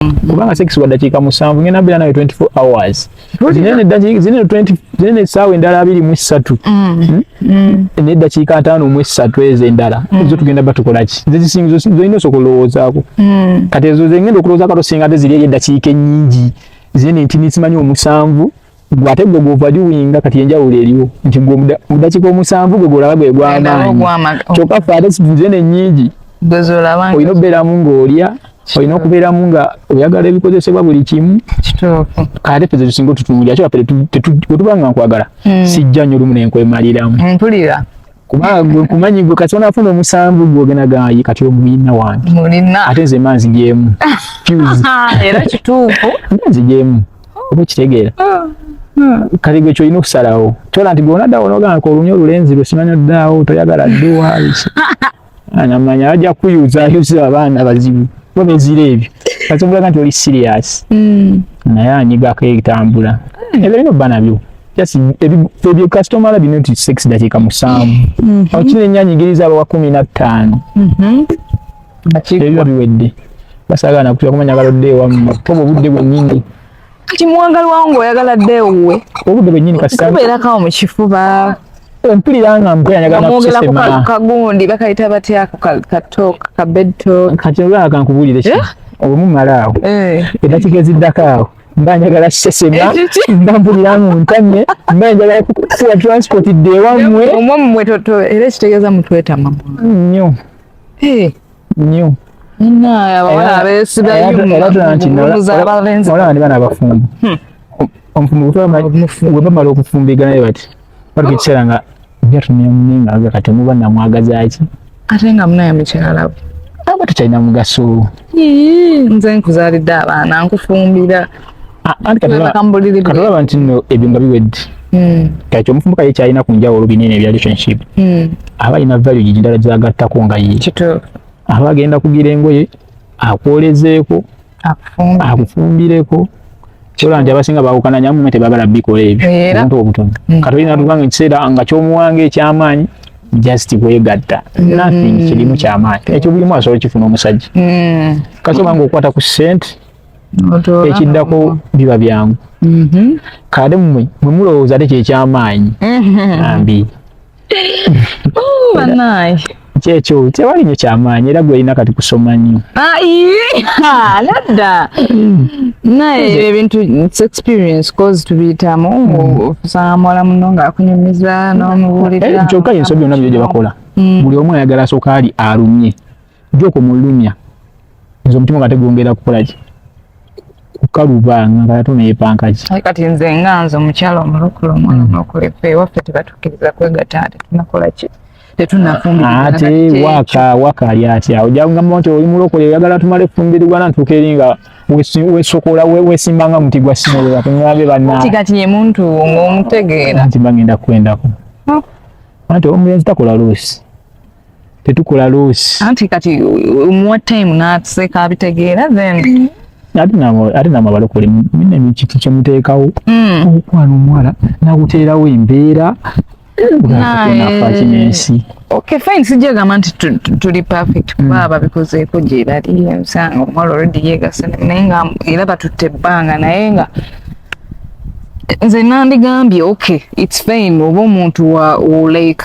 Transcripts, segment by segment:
mm. kubanga sex wa dakiika musanvu ngenda mbeera nawe 24 hours zinene 20 zinene essaawa endala abiri mu essatu mm. Hmm? Mm. neddakiika ataano mu essatu ezo endala ezo tugenda batukolaki zezisinyolina osoka olowoozaako kati ezo zengenda okulowooza kato singa te ziri eyo eddakiika ennyingi zinene nti nisimanyi omusanvu gwe ate gwe gw'ovaluwinga kati enjawulo eriwo nti gwe mu ddakiika omusanvu gwe gw'olaba gwe gw'amaanyi kyokka ffe ate situze ne nnyingi olina okubeeramu ng'olya olina okubeeramu nga oyagala ebikozesebwa buli kimu ate ffe zetusinga otutunulira kyoba ffe wetuba nga nkwagala hmm. sijja nnyo olumu nenkwemaliramu kuba gwe kumanyi gwe kati onafuna omusanvu gwogenda gayi kati omuyina wange mulina ate nze manzi jemu era kituufu manzi jemu oba kitegeera ah, ah. kati gwe kyolina okusalawo kyola nti gwona ddawo nogamba kolunya olulenzi lwe simanyi oddaawo toyagala dduwa anamanya ajja kuyuza ayuza abaana bazibu bo bezira ebyo kati obulaga nti oli siriyasi hmm. naye anyigako etambula hmm. ebyo lina obba nabyo just ebyo customer labi not six dakika musanvu mm-hmm. awo kino enyanyigiriza abawa kumi na ttaano mm-hmm. ebyo biwedde basagala nakutya kumanya galodde ewamu oba obudde bwennyini kati muwagalwa nga oyagala dde ewuwe obudde bwennyini kasikubeera kawo mu kifuba mpulira nga mpulira kagundi bakayita batya ako katok kabedtok kati olwaka nkubulire ki eh? obumumala awo edakigeziddako eh. awo mba njagala sesema mba mpulira mu ntamye mba njagala kuwa transport dde ewammwe omwo mmwe era ekitegeeza mutwetama nnyo nnyo olaba ndi bana abafumbo omufumbo webamala okufumbiganaye bati Bali kiseera nga nja tunywa munenga aga kati muba namwagazaki? Ate nga munaye mukyala we. Aba tekyalina mugaso. Nze nkuzaalidde abaana nkufumbira. Ah, Katolaba nti nno ebyo nga biwedde. Hmm. Kakyo omufumbuka ye kyalina ku njawulo binene ebya relationship. Hmm. Aba alina value gigi ndala gyagattako nga ye. Kituufu. Aba agenda kugira engoye. akwolezeeko akufumbireko kyola nti abasinga bawukana nyamu mwe tebagala bikola ebyo omuntu obutono mm. kati olina tuba nga ekiseera nga kyomuwanga ekyamaanyi just kwegatta mm. nothing kirimu kyamaanyi ekyo bulimu asobola okifuna omusajja mm. kati obanga okukwata ku sente ekiddako biba byangu mm-hmm. kale mmwe mwe mulowooza te kyekyamaanyi mm-hmm. ambi kyekyo tewali nyo kyamaanyi era gwelina kati kusoma nnyo nadda naye ebyo ebintu its experience cause tubiyitamu okusanga hmm. muwala muno ngaakunyumiza nomubuulira eh, kyokka yensobi yona byo gyebakola hmm. buli omu ayagala asooka ali alumye joko mulumya nze omutima kate gwongera kukola ki kukaluba nga kati ono yepanka ki kati nze nga nze omukyala omulokole omwana mm. omulokole ffe ewaffe tebatukkiriza kwegata ate tunakola ki tetunafumbirate waka waka ali atya ojangamba nti oli mulokole oyagala tumale kufumbirigwana ntuuka eri nga wesokola wesimba nga muti gwa simolola tunabe banati kati ye muntu ng'omutegeera nti bagenda kukwendako ante omulenzi takola luusi tetukola loss anti kati muwa time natuseka abitegeera then ate namabalo kuli mine mikiki kyemuteekawo mm. okwano omuwala nakuteerawo embeera nafaki nensi okay fine sijagamba nti tuli perfect kuba mm. babikozeeko gyebali omusanga omuwala olredi yegasa naye nga era batutte ebbanga naye nga nze nandigambye okay its fine oba omuntu wa like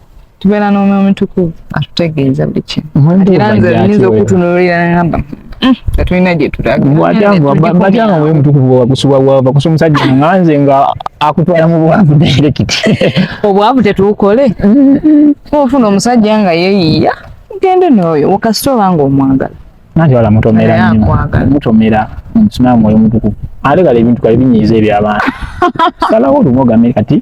tubeera n'omwoyo omutukuvu atutegeeza buli kimu era nze nyinza okutunuulira namba hmm, tetulina gyetulagatanga mwoyo mutukuvu wakusa omusajja nga nze nga akutwala mu bwavu direkiti obwavu tetuukole ofuna omusajja nga yeyiya gende n'oyo wakasita oba nga omwagala nanti wala mutomera mutomera omusinamu mwoyo mutukuvu ate kale ebintu kale binyiiza ebyabantu salawo olumu ogambe kati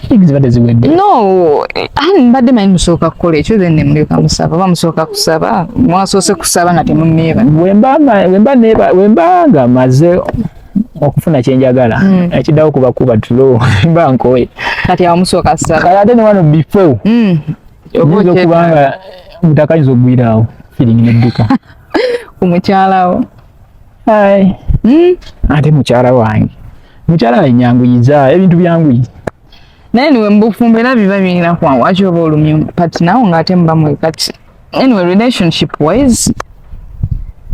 Things zibadde ziwedde. No, ani mbadde manyi musooka kukola ekyo then ne mulyoka musaba. Oba musooka kusaba, mwasoose kusaba nga temunneeba. Wemba wemba neeba wemba nga maze okufuna kye njagala mm. ekiddawo kuba kuba tulo mba nkoye. Kati awo musooka kusaba. Kati ate ne wano before. Mm. Oyinza okuba nga mutakayinza okugwiraawo feeling n'edduka. Ku mukyalawo. Hai. Mm. Ate mukyala wange. Mukyala wange nyanguyiza ebintu byanguyi. Naye niwe mbufumbo era biba birina kwangu ate oba olumya partner wo ng'ate muba mwe kati. Anyway, relationship wise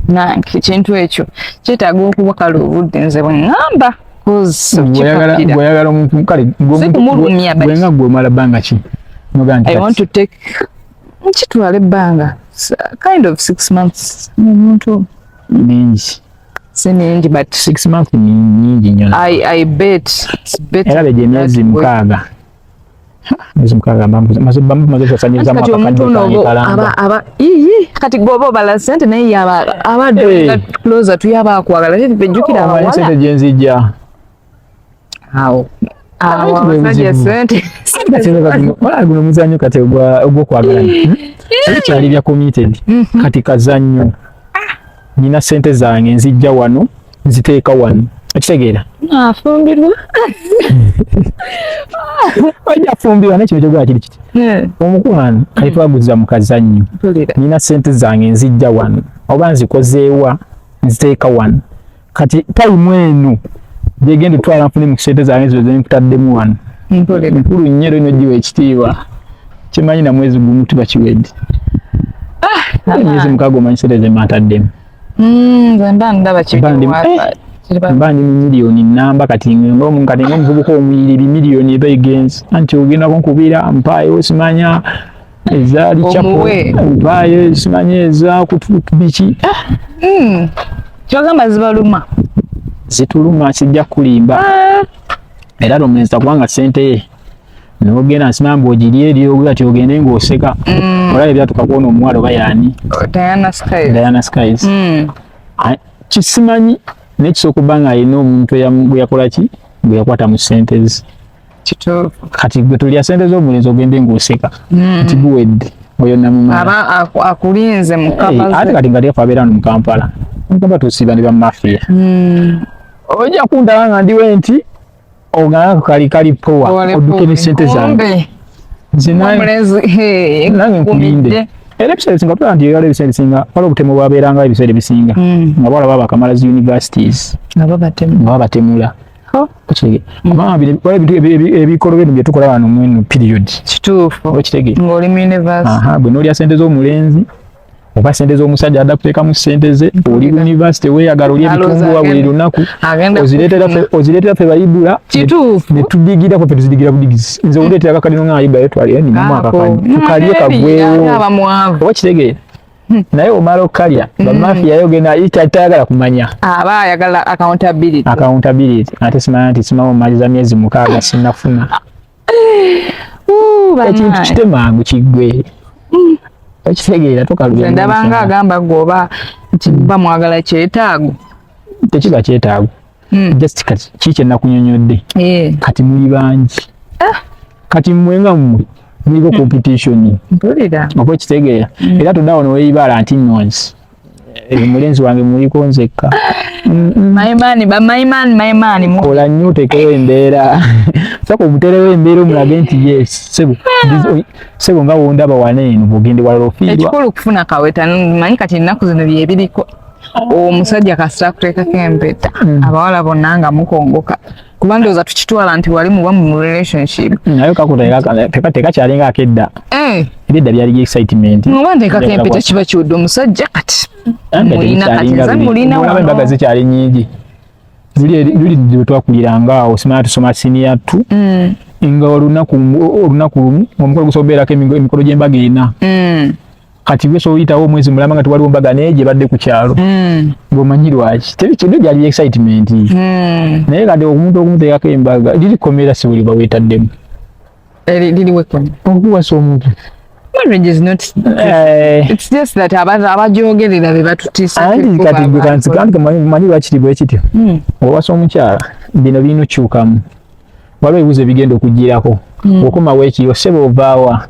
na ekintu ekyo kyetaaga okuba kale obudde nze bwe ngamba gweyagala omuntu kale gwenga gwomala bbanga ki I want to take kitwala ebbanga kind of six months omuntu mingi si mingi but six months mingi nyo i i bet era beje emyezi mukaaga mwezi mukaaga maze bamu maze kusanyiriza mwaka kati omuntu aba aba iyi kati gobo bala sente naye yaba aba hey. closer tuyaba akwagala tete pejukira abawa sente jenzija awo guno muzanyo kati ogwokwagalana hmm? ekyali bya committed mhm. kati kazanyo nina sente zange nzijja wano nziteeka wano okitegeera afumbirwa oja afumbirwa nekino kyogera kiri kiti eh. omukwano kati mm. twaguza mu kazannyo nina sente zange nzijja wano oba nzikozeewa nziteeka wano kati tayimu eno gyegenda otwala nfune mu kisente zange ezo zenkutaddemu wano nkulu nnyo era inogiwa ekitiibwa kimanyi na mwezi gumu tuba kiwedde ah, emyezi mukaaga omanyi sente zemataddemu mm, mba ndi mumiliyoni namba kati ngomu kati ngomuvubuka omuyiriri miliyoni eba egenzi anti ogenda kunkubira mpaayo simanya ezaali kyapo empaayo ezimanyi ezakutuukbiki ah, hmm. kyogamba zibaluma zituluma kijja kulimba ah. era lomeza kubanga sente ye nogenda nsima mbu ogiri eri ogula ti ogende ngaoseka mm. olaba ebyatuka kwona omuwala oba yani oh, diana skies mm. kisimanyi nekisooka okuba nga alina omuntu gweyakolaki gweyakwata mu sentezi kati gwe tulya sente z'omulenzi ogende ng'oseka hmm. nti guwedde oyo namumala akulinze ate kati nga tefa abeera no mu kampala nkaba tusiba ne bamafiya hmm. ojja kundaba nga ndiwe nti ogana kali kali powa oduke ne sente zange nange nkulinde era ebiseera ebisinga tulaba nti era ebiseera ebisinga wala obutemu bwabeeranga ebiseera ebisinga hmm. nga bawala baba bakamala zi universities nga babatemula ebikolo bino byetukola wano mweno period kituufu okitegere ngoli mu university aha bwe nolya sente z'omulenzi oba sente z'omusajja adda kuteekamu sente ze oli university weyagala oli ebitunduwa buli lunaku ozireetera fe bayidula netubigirako fe tuzidigira budigizi nze odeetera kakalino nga ayidulayo twalire ninamu akakanye tukalye kagwewo oba kitegeera Hmm. naye omala okukalya hmm. bamafiya yogenda tayagala kumanya aba ayagala accountability accountability ate simanya nti simama omaliza myezi mukaaga sinafuna ekintu kitemangu kiggwe hmm. okitegeera tokalubndabanga agamba gwoba kiba mwagala kyetaago tekiba kyetaago hmm. just kati kiki kyenakunyonyodde eh. kati muli bangi ah. kati mmwe nga mmwe muliko competition oba ekitegeera hmm. era todawo neweibala nti nonsi eh, omulenzi wange muliko nzekka kola nnyo otekewo embeera saka omuterewo embeera omulage nti yes sebo ah. sebo nga wondaba wana eno bugende walala ofiirwa ekikulu kufuna kaweta manyi kati ennaku zino byebiriko omusajja kasita kuteekako empeta mm. abawala bonna nga mukongoka kuba ndowooza tukitwala nti wali muba mu relationship mm, naye kakuteka tekakyalinga akedda eh. edda byali excitement oba nteekako empeta kiba kiwudde omusajja kati mulina kati nze mulina embaga zikyali nyingi luli bwetwakuliranga awo simana tusoma siniya tu mm. nga olunaku olumu omukolo gusobola okubeerako emikolo gy'embaga ena kati byo so yitawo mwezi mulama nga twaliwo mbaga naye gye badde ku kyalo mm. ngomanyi lwaki teri kintu gyali excitement mm. naye kati omuntu okumuteekako embaga liri komera si buli bawetaddemu okuwasa omuntu manyi lwakiri bwe kityo mm. owasa omukyala bino birina okukyukamu waliwo ebibuzo ebigenda okugirako mm. okomawo ekiyo sebe ovaawa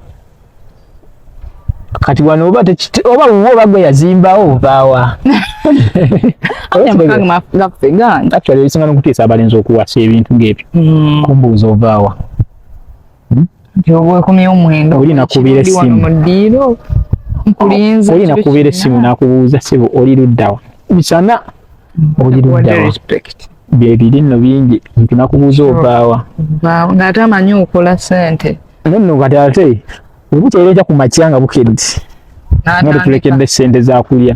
kati wano oba tekiti oba wuwo oba gwe yazimbawo ovaawa actually ebisinga nokutiisa abalenzi okuwasa ebintu ngaebyo hmm. kumbuuza ovaawa olina kubira essimu olina kubira essimu nakubuuza sibu oli luddawa misana oli luddawa byebiri nno bingi nti nakubuuza ovaawa ngaate amanyi okola sente Nonno kati ate ebukya era eja ku makya nga bukedde nga tutulekedde ssente za kulya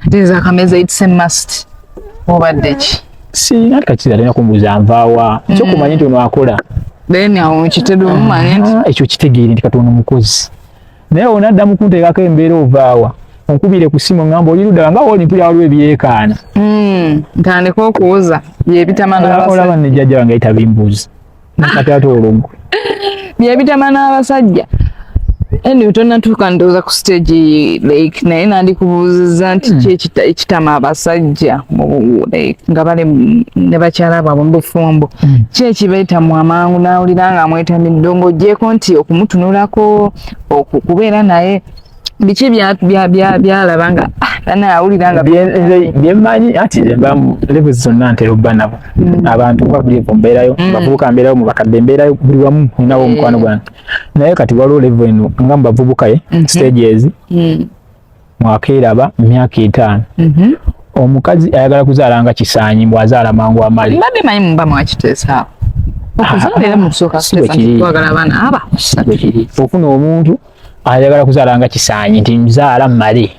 ate ezakameza it's a must obadde ki sirina kakira alina kumbuuza nvaawa mm. kyokumanya nti ono akola then awo mukitebe omumanya nti ah, ekyo kitegeere nti kati ono mukozi naye ono adda mukunteekako embeera ovaawa onkubire ku simu ngamba oli ludala nga oli mpulira waliwo ebyekaana mm, ntandika okuwuza byebitamanaolaba nejjajja wange ayita bimbuuzi nakati ate olugwe byebitama n'abasajja anyway tonatuuka ndowooza ku stage like naye nandikubuuziza nti hmm. ki ekitama abasajja nga bali ne bakyala bwabwe mu bufumbo ki hmm. ekibeetamu amangu n'awulira nga amwetamidde ng'ogyeko nti okumutunulako okubeera naye biki byalaba nga bana ah, awulira nga byemanyi ati levo zonna ntera obba nabo mm. abantu oba buli evo mbeerayo mm. bavubuka mbeerayo mu bakadde mbeerayo buli wamu ninawo eh. omukwano gwange naye kati waliwo levo eno nga mu bavubuka ye mm-hmm. stages mm. mwakeeraba myaka etaano mm-hmm. omukazi ayagala kuzaala nga kisaanyi mbw azaala mangu amali mbadde manyi muba mwakiteesaawo okuzala era mukusooka okufuna omuntu ayagala kuzaala nga kisaanyi nti nzaala male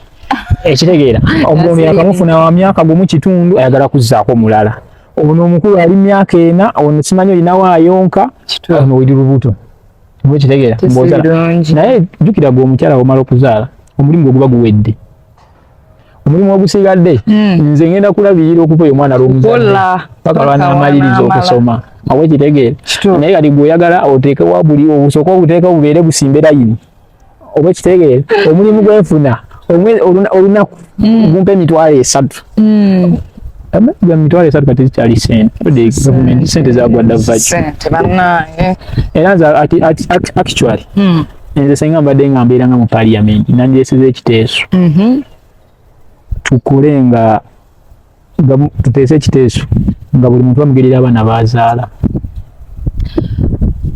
ekitegeera omulondo yakamufuna wa myaka gumu kitundu ayagala kuzzaako omulala ono omukulu ali myaka ena ono simanyi olinawo ayonka ono oli lubuto ekitegeera naye jjukira gwe omukyala womala okuzaala omulimu gwe guba guwedde omulimu ogusigadde hmm. nze ngenda kulabirira okupa oyo omwana lwomuzadde paka lwanamaliriza okusoma awe kitegeera naye kati gweoyagala oteekewa buli obusooka obuteeka bubeere busimbe layini oba ekitegeera omulimu gwenfuna olunaku hmm. gumpa emitwalo esatu hmm. mitwalo esatu kati zikyali sente gavumenti sente zagwadda vaki era nze actually nze senga mbadde nga mbeera nga mu parliament nandireseza ekiteeso mhm. tukole nga tuteese ekiteeso nga buli muntu bamugerera abaana bazaala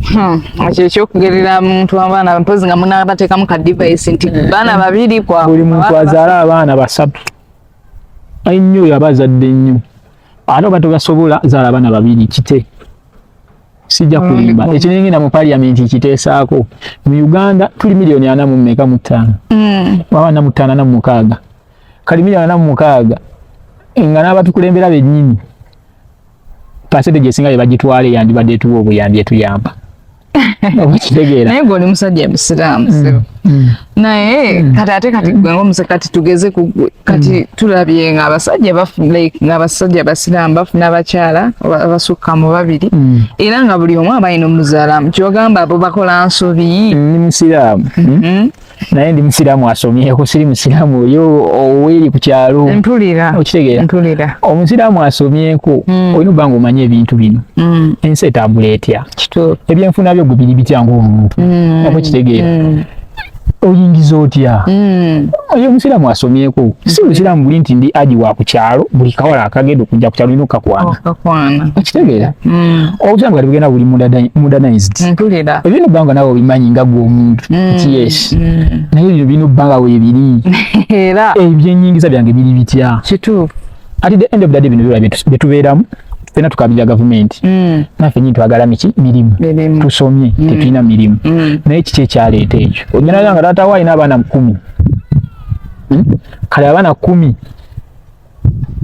Hmm. ekyo ekyokugerera muntu abaana mpozi nga munabateekamu ka device nti baana babiri kwa buli muntu azaala abaana basatu ainnyo oyo aba azadde nnyo ate oba tobasobola zaala abaana babiri kite sijja kulimba mm. ekinengenda mu parliament kiteesaako mu uganda tuli miliyoni ana mu mmeka mu ttaano mm. waba na mu ttaano na mu mukaaga kali miliyoni ana mu mukaaga nga n'abatukulembera bennyini pasente gyesinga yebagitwala eyandibadde etuwa obuyambi etuyamba okukitegeera naye gwe oli musajja musiraamu mm. naye hmm. kati ate kati gwe ngomuze kati tugeze ku kati hmm. tulabye nga abasajja like nga abasajja basiraamu bafuna abakyala abasukka mu babiri hmm. era nga buli omu abalina omuzalamu kyogamba abo bakola nsobi ni musiraamu mm-hmm. naye ndi musiraamu asomyeko siri musiraamu oyo oweri ku kyalo mpulira okitegeera mpulira omusiraamu asomyeko olina obanga omanya ebintu bino ensi etambula etya ebyenfuna byo gubiri bitya ngaomuntu oba okitegeera oyingiza otya mm. oyo omusiraamu asomyeko mm. si musiraamu buli nti ndi aji wa ku kyalo buli kawala akagenda okujja ku kyalo olina okukakwana okitegeera mm. obusiraamu kati bugenda buli modernized ebyo no bbanga nawe obimanyi nga gwe omuntu nti yes naye bino bino bbanga webiri ebyenyingiza byange biri bitya kituufu at the end of the day bino byola byetubeeramu fena tukabira gavumenti mm. nafe nyintu twagala miki mirimu tusomye mm. tetulina mirimu mm. naye kiki ekyaleeta ekyo onyanaga nga taata wo alina abaana kumi hmm? kale abaana kumi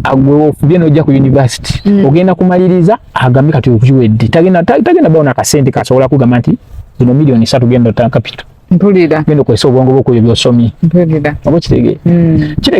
agweofubye nojja ku univesity mm. ogenda kumaliriza agambe kati okukiwedde tagenda tagenda bawo nakasente kasobola kugamba nti zino miliyoni satu genda otana kapito mpulira genda okozesa obwongo bwokuyo byosomye mpulira oba kitegee mm.